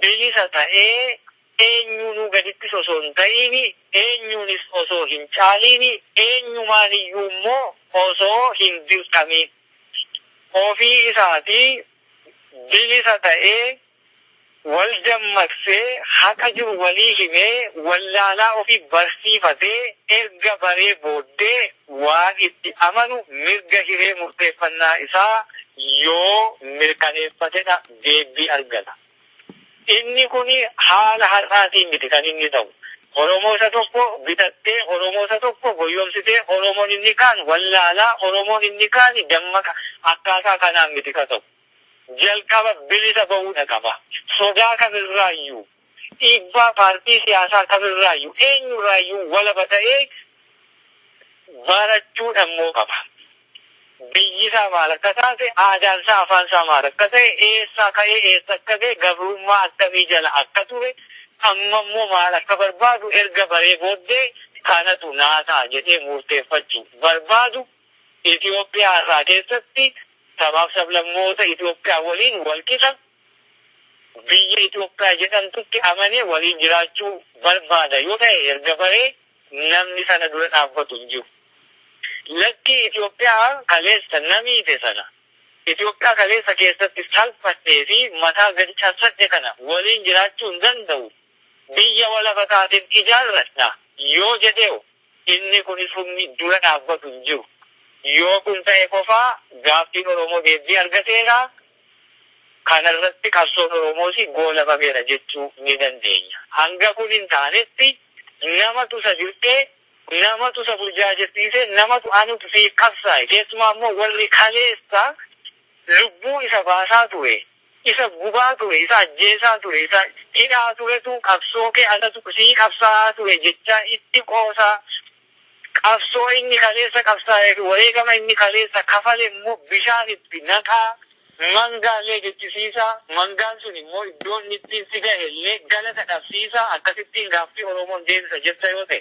bilisa ta'ee eenyuunuu gadittis osoo hin ta'iini, eenyuunis osoo hin caaliini, eenyumaaniyyuu immoo osoo hin dirqamiin ofii isaatii bilisa ta'ee, wal dammaqsee, haqa jiru walii himee, wallaalaa ofii barsiifatee erga baree booddee waan itti amanu mirga hiree murteeffannaa isaa yoo mirkaneeffatedha deebbii argata. Inni kuni haala har'aatiin miti kan inni ta'u. Oromoo isa tokko bitattee, Oromoo isa tokko goyyomsitee, Oromoon inni kaan wallaalaa, Oromoon inni kaani dammaqa akkaataa kanaan miti ka ta'u. jalqaba bilisa ba'uudha qaba. Sodaa kamirraayyuu, dhiibbaa paartii siyaasaa kamirraayyuu, eenyurraayyuu walaba ta'ee barachuu dhammoo qaba. Biyyisaa maal akka taate, aadaansaa, afaansaa maal akka ta'e, eessaa ka'ee eessa akka ga'e, gabrummaa akkamii jala akka ture, ammammoo maal akka barbaadu erga baree booddee kanatu naa ta'a jedhee murteeffachuu barbaadu. Itoophiyaa har'aa keessatti sabaaf sablammoota Itoophiyaa waliin walqixa biyya Itoophiyaa jedhamtutti amanee waliin jiraachuu barbaada yoo ta'e erga baree namni sana dura dhaabbatu hin jiru. Lakkii Itoophiyaa kaleessa na miite sana, Itoophiyaa kaleessa keessatti salphadhee fi mataa gadi cabsadhe kana waliin jiraachuu hin danda'u, biyya walaba taateen ijaarradha yoo jedhee hoo? Inni kunis humni dura dhaabbatu hin jiru. Yoo kun ta'e qofa gaaffiin Oromoo deebbii argateera, kana irratti qabsoon Oromoos goolabameera jechuu ni dandeenya. Hanga kun hin taanetti namatu isa dirqee, namatu isa burjaajessiise, namatu anutu siif qabsaa'e, keessumaa immoo warri kaleessa lubbuu isa baasaa ture, Isa gubaa ture, isa ajjeesaa ture, isa hidhaa turetu qabsoo kee anatu sii qabsaa'aa ture jechaa itti qoosaa, qabsoo inni kaleessa qabsaa'ee fi wareegama inni kaleessa kafale immoo bishaan itti naqaa, mangaa illee jechisiisaa, mangaan sun immoo iddoo inni ittiin si gahe illee galata dhabsiisaa, akkasittiin gaaffii Oromoon deebisa jetta yoo ta'e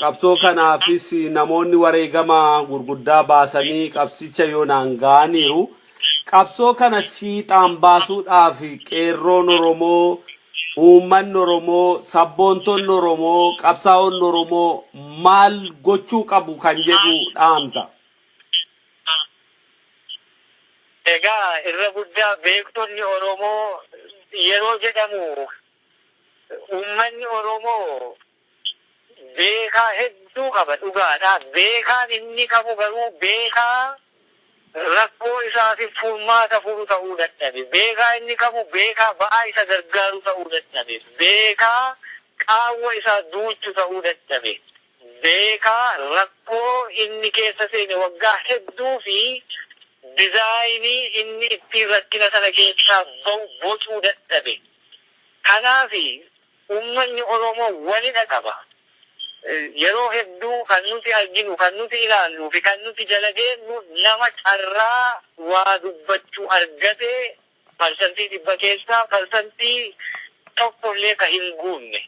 Qabsoo kanaafis namoonni wareegama gurguddaa baasanii qabsicha yoonaan ga'aniiru. Qabsoo kana fiixaan baasuudhaaf Qeerroon Oromoo, Uummanni Oromoo, Sabboontonni Oromoo, Qabsaa'onni Oromoo maal gochuu qabu kan jedhu dhaamta? Egaa irra guddaa beektonni Oromoo yeroo jedhamu Uummanni Oromoo beekaa hedduu qaba dhugaadha. Beekaan inni qabu garuu beekaa rakkoo isaatiif furmaata furu ta'uu dadhabe. Beekaa inni qabu beekaa ba'aa isa gargaaru ta'uu dadhabe. Beekaa qaawwa isaa duuchu ta'uu dadhabe. Beekaa rakkoo inni keessa seene waggaa hedduu fi dizaayinii inni ittiin rakkina sana keessaa ba'u bocuu dadhabe. Kanaafi Uummanni Oromoo walidha qaba. Yeroo hedduu kan nuti arginu, kan nuti ilaalluu fi kan nuti jala deemnu nama carraa waa dubbachuu argate parsantii dhibba keessaa parsantii tokko illee ka hin guunne.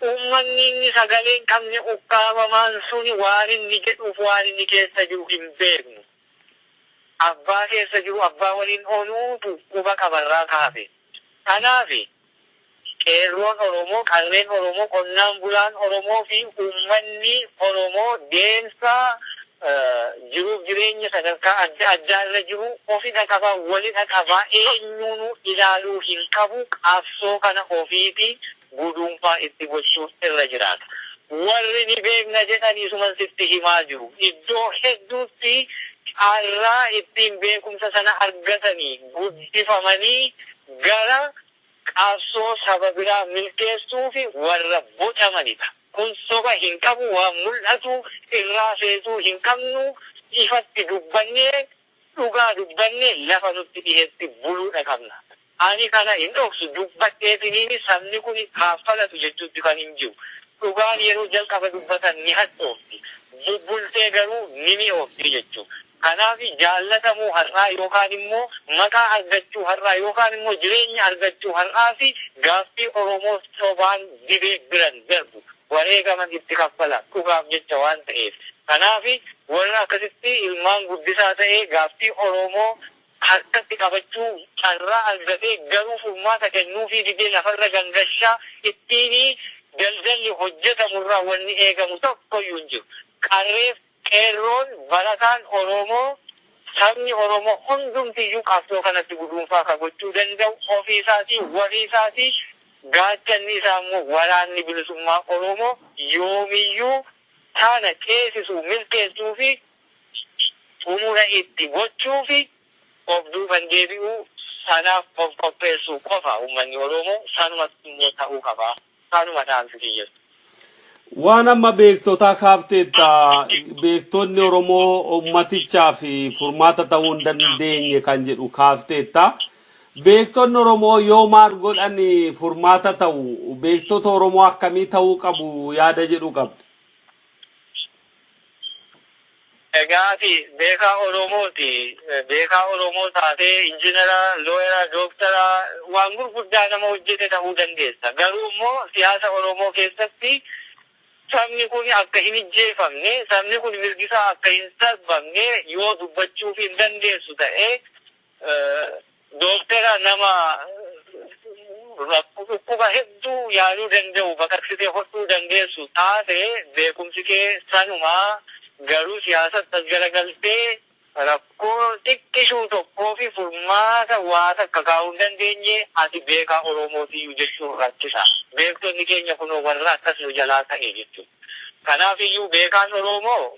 Uummanni inni sagalee hin qabne ukkaamamaan suni waan inni jedhuu fi waan inni keessa jiru hin beeknu. Abbaa keessa jiru abbaa waliin ooluutu quba qaba irraa ka hafe. Kanaafi Qeerroon Oromoo, Qarreen Oromoo, Qonnaan Bulaan Oromoo fi Uummanni Oromoo deemsa jiruuf jireenya sadarkaa adda addaa irra jiru ofidha qaba, walidha qaba, eenyuunuu ilaaluu hin qabu, qabsoo kana ofiiti guduunfaa itti gochuun irra jiraata. Warri ni beekna jedhan isuman sitti himaa jiru. Iddoo hedduutti carraa ittiin beekumsa sana argatanii, guddifamanii Gara qabsoo saba biraa milkeessuufi warra bocamanidha. Kun soba hin qabu, waan mul'atu irraa feesuu hin qabnu, ifatti dubbannee dhugaa dubbanne lafa nutti dhihetti buluudha qabna. Ani kana hin dhoksu, dubbadheetiniini sabni kun kaaffalatu jechuutti kan hin jiru. Dhugaan yeroo jalqaba dubbatan ni hadhoofti, bubbultee garuu ni mi'oofti jechuudha. Kanaaf jaallatamuu har'aa yookaan immoo maqaa argachuu har'aa yookaan immoo jireenya argachuu har'aa fi gaaffii Oromoo sobaan dibee biran darbu wareegaman itti kaffala dhugaaf jecha waan ta'eef. Kanaaf warra akkasitti ilmaan guddisaa ta'ee gaaffii Oromoo harkatti qabachuu carraa argatee garuu furmaata kennuufii didee lafarra gangashaa ittiin daldalli hojjetamu irraa wanni eegamu tokkoyyuu hin jiru. Qarreef. Qeerroon, barataan Oromoo, sabni Oromoo hundumtiyyuu qabsoo kanatti guduunfaa ka gochuu danda'u ofii isaatii, warii isaatii, gaachanni isaa immoo Waraanni Bilisummaa Oromoo yoomiyyuu kana ceesisuu, milkeessuu fi xumura itti gochuufi of duuban deebi'uu, sanaaf of qopheessuu qofa. Ummanni Oromoo sanumatu immoo ta'uu qabaa. Kanuma dhaamsi kiyyas. Waan amma beektotaa kaafteetta beektonni Oromoo ummatichaaf furmaata ta'uu hin dandeenye kan jedhu kaafteetta. Beektonni Oromoo yoo maal godhan furmaata ta'u beektota Oromoo akkamii ta'uu qabu yaada jedhu qabda. Miidhagaa fi beekaa Oromoo ti. Beekaa Oromoo taatee injinara, looyera, dooktara, waan gurguddaa nama hojjete ta'uu dandeessa. Garuu immoo siyaasa Oromoo keessatti sabni kun akka hin ijjeefamne, sabni kun mirgisaa akka hin sarbamne yoo dubbachuufii hin dandeessu ta'e, Dooktera nama dhukkuba hedduu yaaluu danda'u baqaqsitee hodhuu dandeessu taate beekumsi kee sanuma garuu siyaasatti as garagaltee rakkoo xiqqishuu tokkoofi furmaata waa takka kaa'uu hin dandeenye ati beekaa Oromootiyyuu jechuun rakkisa. Beektonni keenya kunoo warra akkas nu jalaa ta'e jechuudha. Kanaafiyyuu beekaan Oromoo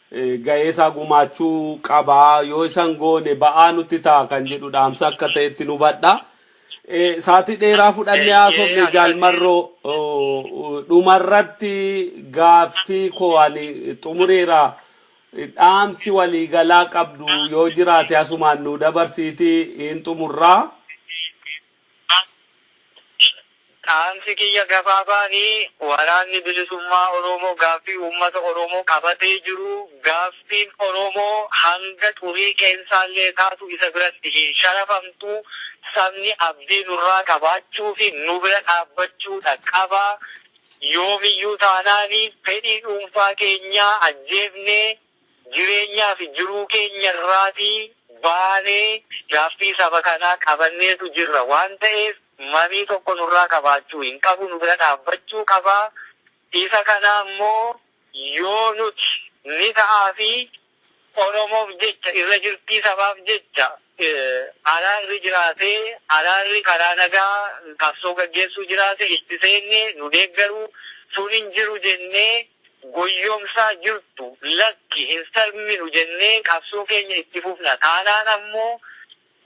gahee isaa gumaachuu qaba. Yoo isa hin goone ba'aa nutti ta'a kan jedhu dhaamsa akka ta'etti nu hubadha. Saatii dheeraa fudhannee haasofne jaalmarroo dhumarratti gaaffii koo ani xumureera. Dhaamsi waliigalaa qabdu yoo jiraate asumaan nu dabarsiiti hin xumurraa. Dhaamsi kiyya gabaabaan Waraanni Bilisummaa Oromoo gaaffii uummata Oromoo qabatee jiru gaaffiin Oromoo hanga xurii qeensaallee taatu isa biratti hin sharafamtu, sabni abdii nurraa qabaachuu fi nu bira dhaabbachuudha qaba. Yoomiyyuu taanaan fedhii dhuunfaa keenyaa ajjeefnee Jireenyaa fi jiruu keenya irraatii baanee gaaffii saba kanaa qabanneetu jirra waan ta'eef mamii tokko nurraa qabaachuu hin qabu nu bira dhaabbachuu qaba isa kana ammoo yoo nuti ni ta'aa fi Oromoof jecha irra jirtii sabaaf jecha araarri jiraatee araarri karaa nagaa qabsoo gaggeessuu jiraate itti seenne nu deeggaru sun hin jiru jennee goyyomsaa jirtu lakki hin sarminu jennee qabsoo keenya itti fufna taanaan ammoo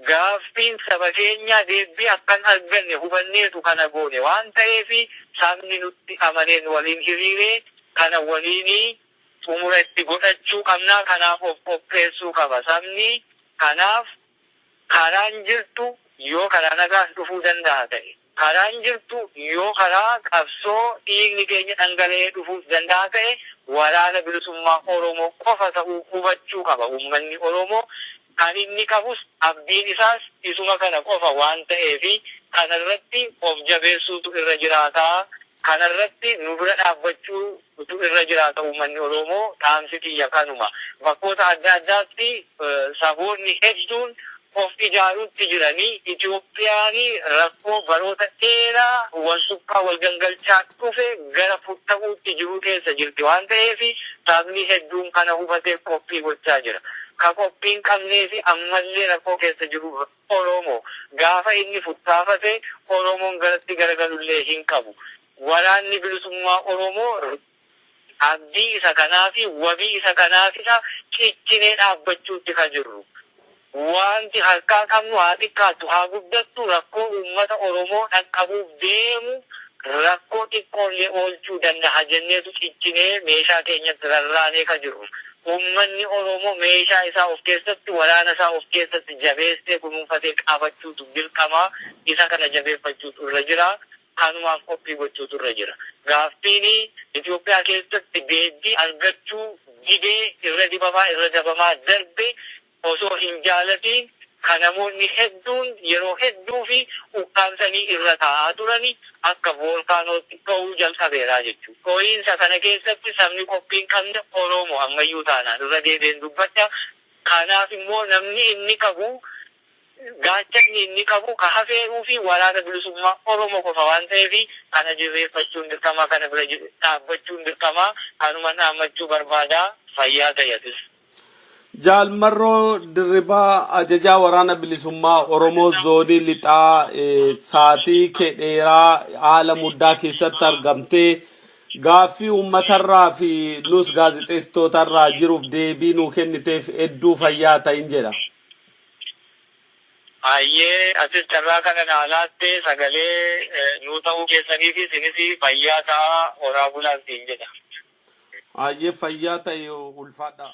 gaaffiin saba keenyaa deebbii akka hin arganne hubanneetu kana goone waan ta'eef sabni nutti amanee nu waliin hiriiree kana waliin xumura itti godhachuu qabna. Kanaaf of qopheessuu qaba sabni. Kanaaf karaan jirtu yoo karaa nagaan dhufuu danda'a ta'e, karaan jirtu yoo karaa qabsoo dhiigni keenya dhangala'ee dhufuus danda'a ta'e Waraana Bilisummaa Oromoo qofa ta'uu hubachuu qaba uummanni Oromoo. Kan inni qabus abdiin isaas isuma kana qofa waan ta'eef kana irratti of jabeessuutu irra jiraata Kana irratti nu bira dhaabbachuu utuu irra jiraata uummanni Oroomoo dhaamsi kiyya kanuma. Bakkoota adda addaatti saboonni hedduun of ijaaruutti jirani. Itiyoophiyaani rakkoo baroota dheeraa wal suphaa wal gangalchaa dhufe gara futta'uutti jiruu keessa jirti waan ta'eefi sabni hedduun kana hubatee qophii gochaa jira. Ka qophii hin qabneefi ammallee rakkoo keessa jiru Oromo gaafa inni futtaafate Oromon garatti garagalullee hin qabu. Waraanni Bilisummaa Oromoo abdii isa kanaafi wabii isa kanaafidha cichinee dhaabbachuutti ka jirru. Waanti harkaa qabnu haa xiqqaattu haa guddattu rakkoo uummata Oromoo dhaqqabuuf deemu rakkoo xiqqoollee oolchuu dandaha jenneetu cichinee meeshaa keenyatti rarraanee ka jirru. Uummanni Oromoo meeshaa isaa of keessatti, waraana isaa of keessatti jabeessee kunuunfatee qabachuutu dirqama. Isa kana jabeeffachuutu irra jira. Kanumaaf qophii gochuutu irra jira. Gaaffiin Itoophiyaa keessatti deebbii argachuu didee irra dibamaa, irra dabamaa darbe, osoo hin jaalatiin ka namoonni hedduun yeroo hedduufi ukkaamsanii irra taa'aa turani akka voolkaanootti dho'uu jalqabeera jechuun, dho'iinsa kana keessatti sabni qophii hin qabne Oroomo ammayyuu taanaan irra deebi'een dubbadha, kanaaf immoo namni inni qabu, gaachanni inni qabu ka hafeeruufi Waraana Bilisummaa Oromo qofa waan ta'eef kana dirreeffachuun dirqama, kana bira dhaabbachuun dirqama, kanuman dhaammachuu barbaada, fayyaa ta'i atis. Jaal Marroo Dirribaa ajajaa waraana bilisummaa Oromoo zoonii lixaa eh, saatii kee dheeraa haala muddaa keessatti argamtee gaaffii uummatarraa fi nus gaazexeessitootarraa jiruuf deebii nuu kenniteef hedduu fayyaa ta'in jedha. Hayyee atis carraa kana naa laatte sagalee nuu ta'uu keessaniifi sinis fayyaa ta'aa horaa bulaan siin jedha. Hayyee fayyaa ta'i ulfaadhaa.